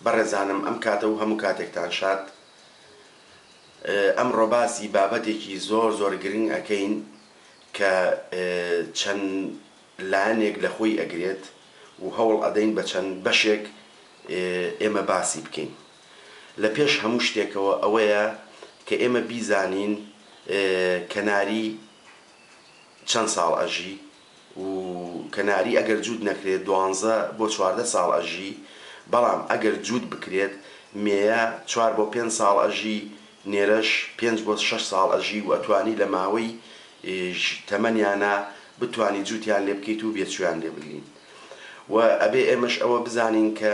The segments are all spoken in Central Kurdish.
بەڕێزانم ئەم کاتە و هەموو کاتێکتان شاد. ئەمڕۆ باسی بابەتێکی زۆر زۆر گرنگ ئەکەین کە چەند لایەنێک لە خۆی ئەگرێت و هەوڵ ئەدەین بە چەند بەشێک ئێمە باسی بکەین. لە پێش هەموو شتێکەوە ئەوەیە کە ئێمە بیزانین کەناری چەند ساڵ ئەژی؟ و کەناری ئەگەر جووت نەکرێت دوانزە بۆ چواردە ساڵ ئەژی بەڵام ئەگەر جووت بکرێت مێیە چوار بۆ پێنج ساڵ ئەژی نێرەش پێنج بۆ شەش ساڵ ئەژی و ئەتوانی لە ماوەی تەمەنیانا بتوانی جووتیان لێ بکەیت و بێچوویان لێ بگرین و ئەبێ ئێمەش ئەوە بزانین کە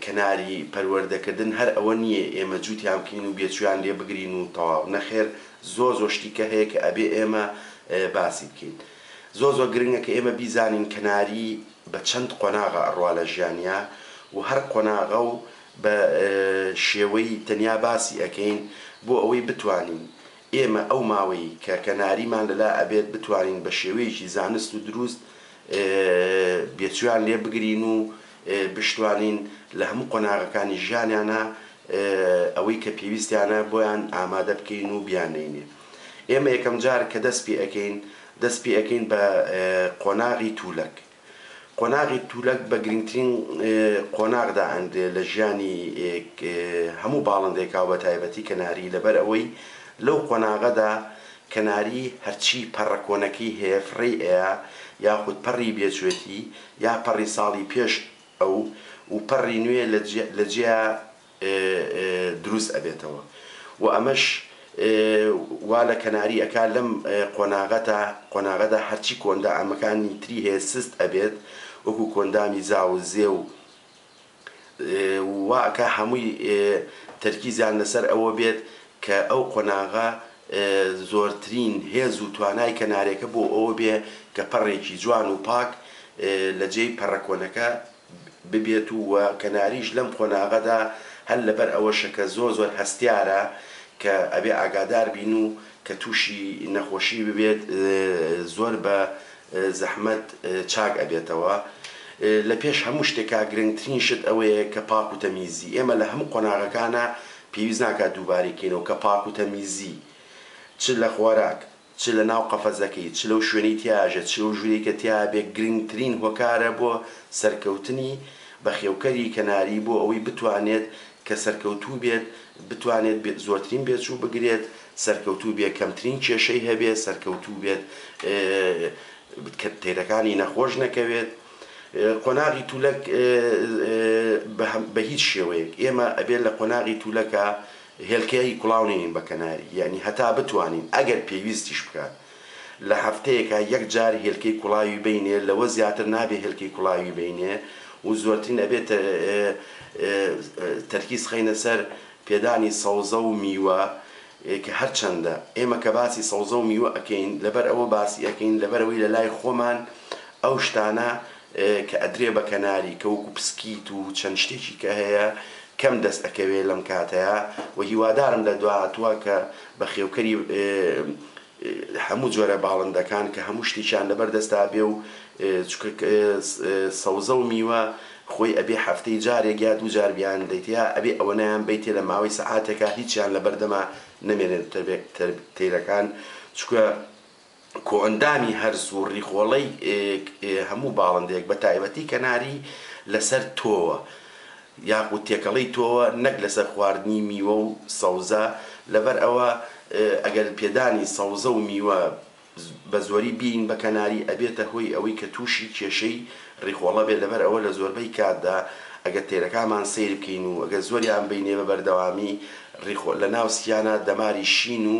کەناری پەروەردەکردن هەر ئەوە نییە ئێمە جووتیان بکەین و بێچوویان لێ بگرین و تەواو، نەخێر زۆر زۆر شتی کە هەیە کە ئەبێ ئێمە باسی بکەین. زۆر زۆر گرنگە کە ئێمە بیزانین کەناری بە چەند قۆناغە ئەڕوا لە ژیانیا و هەر قۆناغە و بە شێوەی تەنیا باسی ئەکەین بۆ ئەوەی بتوانین ئێمە ئەو ماوەی کە کەناریمان لە لا ئەبێت بتوانین بە شێوەیەکی زانست و درووست بێچوویان لێ بگرین و بشتوانین لە هەموو قۆناغەکانی ژیانیانا ئەوەی کە پێویستیانە بۆیان ئامادە بکەین و بیاننێینێ. ئێمە یەکەم جار کە دەست پێ ئەکەین، دەست پێ ئەکەین بە قۆناغی توولەک. قۆناغی توولەک بە گرنگترین قۆناغ دا ئەنرێ لە ژیانی هەموو باڵندەیەکا و بە تایبەتی کەناری لەبەر ئەوەی لەو قۆناغەدا کەناری هەرچی پەڕە کۆنەکەی هەیە فڕێی ئەیا یاخود پەڕی بێچوێتی یا پەڕی ساڵی پێش ئەو و پەڕی نوێ لە جێیا دروست ئەبێتەوە و ئەمەش وا لە کەناری ئەکا لەم قۆناغەتا قۆناغەدا هەرچی کۆندائەمەکانی تری هەیە سست ئەبێت وەکو کۆندامی زاو و زێ و وا ئەکا هەمووی تەرکیزیان لەسەر ئەوە بێت کە ئەو قۆناغە زۆرترین هێز و توانای کەنارێکە بۆ ئەوە بێ کە پەڕێکی جوان و پاک لە جێی پەڕە کۆنەکە ببێت و وە کەناریش لەم قۆناغەدا هەر لەبەر ئەوەشە کە زۆر زۆر هەستیارە کە ئەبێ ئاگادار بین و کە توشی نەخۆشی ببێت زۆر بە زەحمەت چاک ئەبێتەوە لە پێش هەموو شتێکا گرنگترین شت ئەوەیە کە پاک و تەمیزی ئێمە لە هەموو قۆناغەکانا پێویست ناکا دووبارەی کەینەوە کە پاک و تەمیزی چ لە خۆراک چ لە ناو قەفەزەکەی چ لەو شوێنەی تیایا ژێت چ لەو ژورەی کە تیایا بێت گرنگترین هۆکارە بۆ سەرکەوتنی بەخێوکەری کەناری بۆ ئەوەی بتوانێت کە سەرکەوتوو بێت بتوانێت بێ زۆرترین بێچوو بگرێت، سەرکەوتوو بێ کەمترین کێشەی هەبێت، سەرکەوتوو بێت کە تێرەکانی نەخۆش نەکەوێت. قۆناغی تولەک بە هە بە هیچ شێوەیەک ئێمە ئەبێ لە قۆناغی تولەکا هێلکەی کوڵاو نێین بە کەناری یانی هەتا بتوانین ئەگەر پێویستیش بکات لە هەفتەیەکا یەک جار هێلکەی کوڵاوی بینێ لەوە زیاتر نابێ هێلکەی کوڵاوی بینێ و زۆرترین ئەبێ تەرکیز خەینە سەر پێدانی سەوزە و میوە کە هەرچەندە ئێمە کە باسی سەوزە و میوە ئەکەین لەبەر ئەوە باسی ئەکەین لەبەرئەوەی لەلای خۆمان ئەو شتانە کە ئەدرێ بە کەناری کە وەکو پسکیت و چەند شتێکی کە هەیە کەم دەست ئەکەوێ لەم کاتەیا وە هیوادارم لە دواهاتووە کە بەخێوکەری هەموو جۆرە باڵندەکان کە هەموو شتێکیان لەبەر دەستا بێ و چکە سەوزە و میوە خۆی ئەبێ هەفتەی جارێک یا دوو جار بیان دەیتەیا ئەبێ ئەوەنەیان بەیتێ لە ماوەی سەعاتێکا هیچیان لەبەردەما نەمێنێ تەیرەکان چکە کۆئەندامی هەرس و ڕیخۆڵەی هەموو باڵندەیەک بە تایبەتی کەناری لەسەر تۆوە یاخود تێکەڵەی تۆوە نەک لەسەر خواردنی میوە و سەوزە لەبەر ئەوە ئەگەر پێدانی سەوزە و میوە بە زۆری بین بە کەناری ئەبێتە هۆی ئەوەی کە تووشی کێشەی ڕیخۆڵە بێت لەبەر ئەوە لە زۆربەی کاتدا ئەگەر تێرەکانمان سەیر بکەین و ئەگەر زۆریان بینێ بە بەردەوامی ڕیخۆ لە ناو سیانە دەماری شین و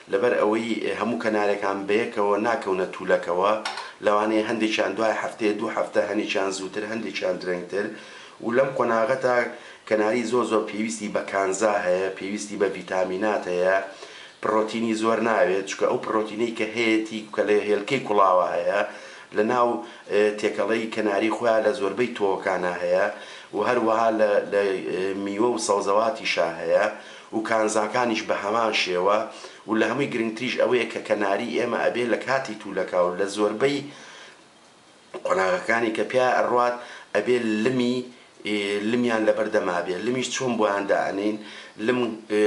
لەبەر ئەوەی هەموو کەنارەکان بەیەکەوە ناکەونە توولەکەوە، لەوانەیە هەندێکیان دوای هەفتەیە دوو هەفتە، هەنێکیان زووتر، هەندێکیان درەنگتر و لەم قۆناغەدا کەناری زۆر زۆر پێویستی بە کانزا هەیە، پێویستی بە ڤیتامینات هەیە، پڕۆتینی زۆر ناوێت، چونکە ئەو پڕۆتینەی کە هەیەتی کە لە هێلکەی کوڵاوە هەیە، لە ناو تێکەڵەی کەناری خۆیان لە زۆربەی تۆوەکانا هەیە و هەروەها لە میوە و سەوزەواتیشا هەیە. و کانزاکانیش بە هەمان شێوە و لە هەمووی گرنگتریش ئەوەیە کە کەناری ئێمە ئەبێ لە کاتی تولەکا و لە زۆربەی قۆناغەکانی کە پیایا ئەڕوات ئەبێ لمی لمیان لەبەر دەما بێ لمیش چۆن بۆیان دائەنێین لم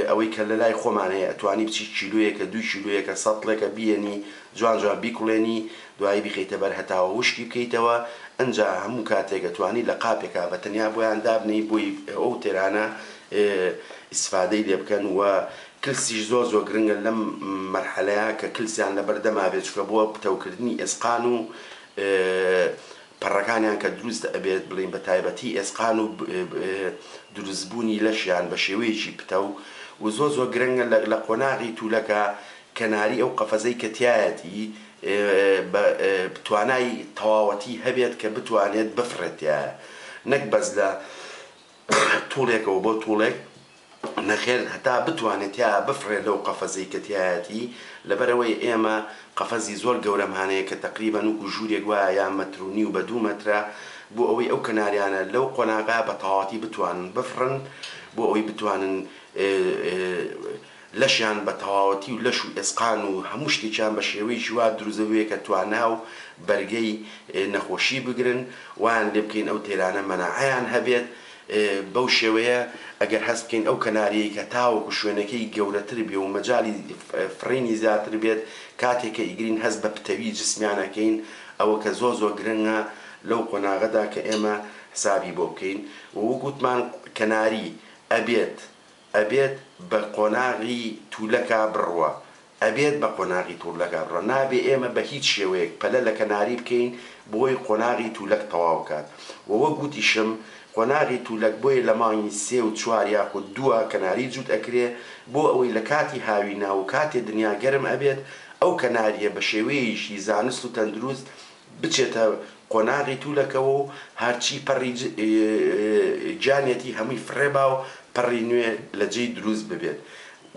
ئەوەی کە لە لای خۆمان هەیە ئەتوانی بچی کیلۆیەکە دوو کیلۆیەکە سەتڵێکە بیەنی جوان جوان بیکوڵێنی دوایی بیخەیتە بەر هەتاوە وشکی بکەیتەوە ئەنجا هەموو کاتێک ئەتوانی لە قاپێکا بە تەنیا بۆیان دابنێی بۆی ئەو تێرانە ئیسفادەی لێ بکەن وە کلسیش زۆر زۆر گرنگە لەم مەرحەلەیە کە کلسیان لەبەر دەما بێت چونکە بۆ پتەو کردنی ئێسقان و پەڕەکانیان کە دروست ئەبێت بڵێن بە تایبەتی ئێسقان و دروست بوونی لەشیان بە شێوەیەکی پتەو و زۆر زۆر گرنگە لە لە قۆناغی توولەکە کەناری ئەو قەفەزەی کە تیایەتی بە توانای تەواوەتی هەبێت کە بتوانێت بفڕێت تیایە نەک بەس لە توڵێکەوە بۆ توڵێک نەخێر هەتا بتوانێ تیا بفڕێ لەو قەفەزەی کە تیایەتی لەبەرئەوەی ئێمە قەفەزی زۆر گەورەمان هەیە کە تەقریبەن وەکو ژوورێک وایە یان مەتر و نیو بە دوو مەترە بۆ ئەوەی ئەو کەناریانە لەو قۆناغە بە تەواوەتی بتوانن بفڕن بۆ ئەوەی بتوانن لەشیان بە تەواوەتی و لەش و ئێسقان و هەموو شتێکیان بە شێوەیەکی وا دروزە بوێ کە توانا و بەرگەی نەخۆشی بگرن وایان لێ بکەین ئەو تێرانە مەناعەیان هەبێت بەو شێوەیە ئەگەر هەست بکەین ئەو کەناریەی کە تاوەکو شوێنەکەی گەورەتر بێ و مەجالی فڕینی زیاتر بێت کاتێ کە ئیگرین هەست بە پتەوی جسمیان ئەکەین ئەوە کە زۆر زۆر گرنگە لەو قۆناغەدا کە ئێمە حسابی بۆ بکەین و وەک وتمان کەناری ئەبێت ئەبێت بە قۆناغی تولەکا بڕوا ئەبێت بە قۆناغی تولەکا بڕوا نابێ ئێمە بە هیچ شێوەیەک پەلە لە کەناری بکەین بۆی قۆناغی تولەک تەواو کات و وەک وتیشم قۆناغی تولەک بۆیە لە مانگی سێ و چوار یاخود دووە کەناری جووت ئەکرێ بۆ ئەوەی لە کاتی هاوینە و کاتێ دنیا گەرم ئەبێت ئەو کەناریە بە شێوەیەیشی زانست و تەندروست بچێتە قۆناغی تولەکەوە و هەرچی پەڕی گیانیەتی هەمووی فڕێ با و پەڕی نوێ لە جێی دروست ببێت.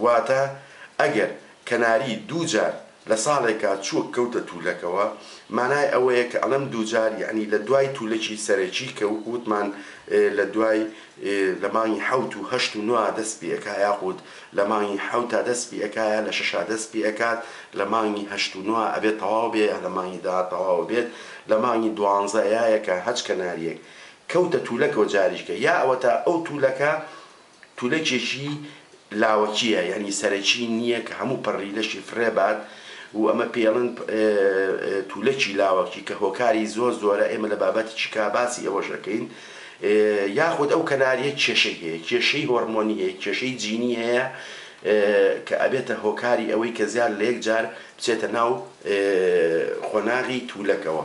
واتە ئەگەر کەناری دوو جار لە ساڵێکا چووک کەوتە تولەکەوە، مانای ئەوەیە کە ئەڵێم دوو جار یەعنی لە دوای تولەکی سەرەکی کە وەکو وتمان لە دوای ی لە مانگی حەوت و هەشت و نۆا دەست پی ئەکا یاخود لە مانگی حەوتا دەست پی ئەکا یا لە شەشا دەست پی ئەکات لە مانگی هەشت و نۆا ئەبێت تەواو بێ یا لە مانگی دەا تەواو ئەبێت لە مانگی دوانزە یا یەکا هەچ کەناریەک کەوتە تولەکەوە جاریشکە یا ئەوەتا ئەو تولەکە تولەکێکی لاوەکیە یانی سەرەکی نیە کە هەموو پەڕی لەشی فڕێ بات و ئەمە پێڵن تولەکی لاوەکی کە هۆکاری زۆر زۆرە ئێمە لە بابەتیکی کا باسی ئەوەش ئەکەین یاخود ئەو کەناریە کێشەی هەیە کێشەی هۆڕمۆنی هەیە کێشەی جینی هەیە کە ئەبێتە هۆکاری ئەوەی کە زیاد لە یەک جار بچێتە ناو قۆناغی تولەکەوە.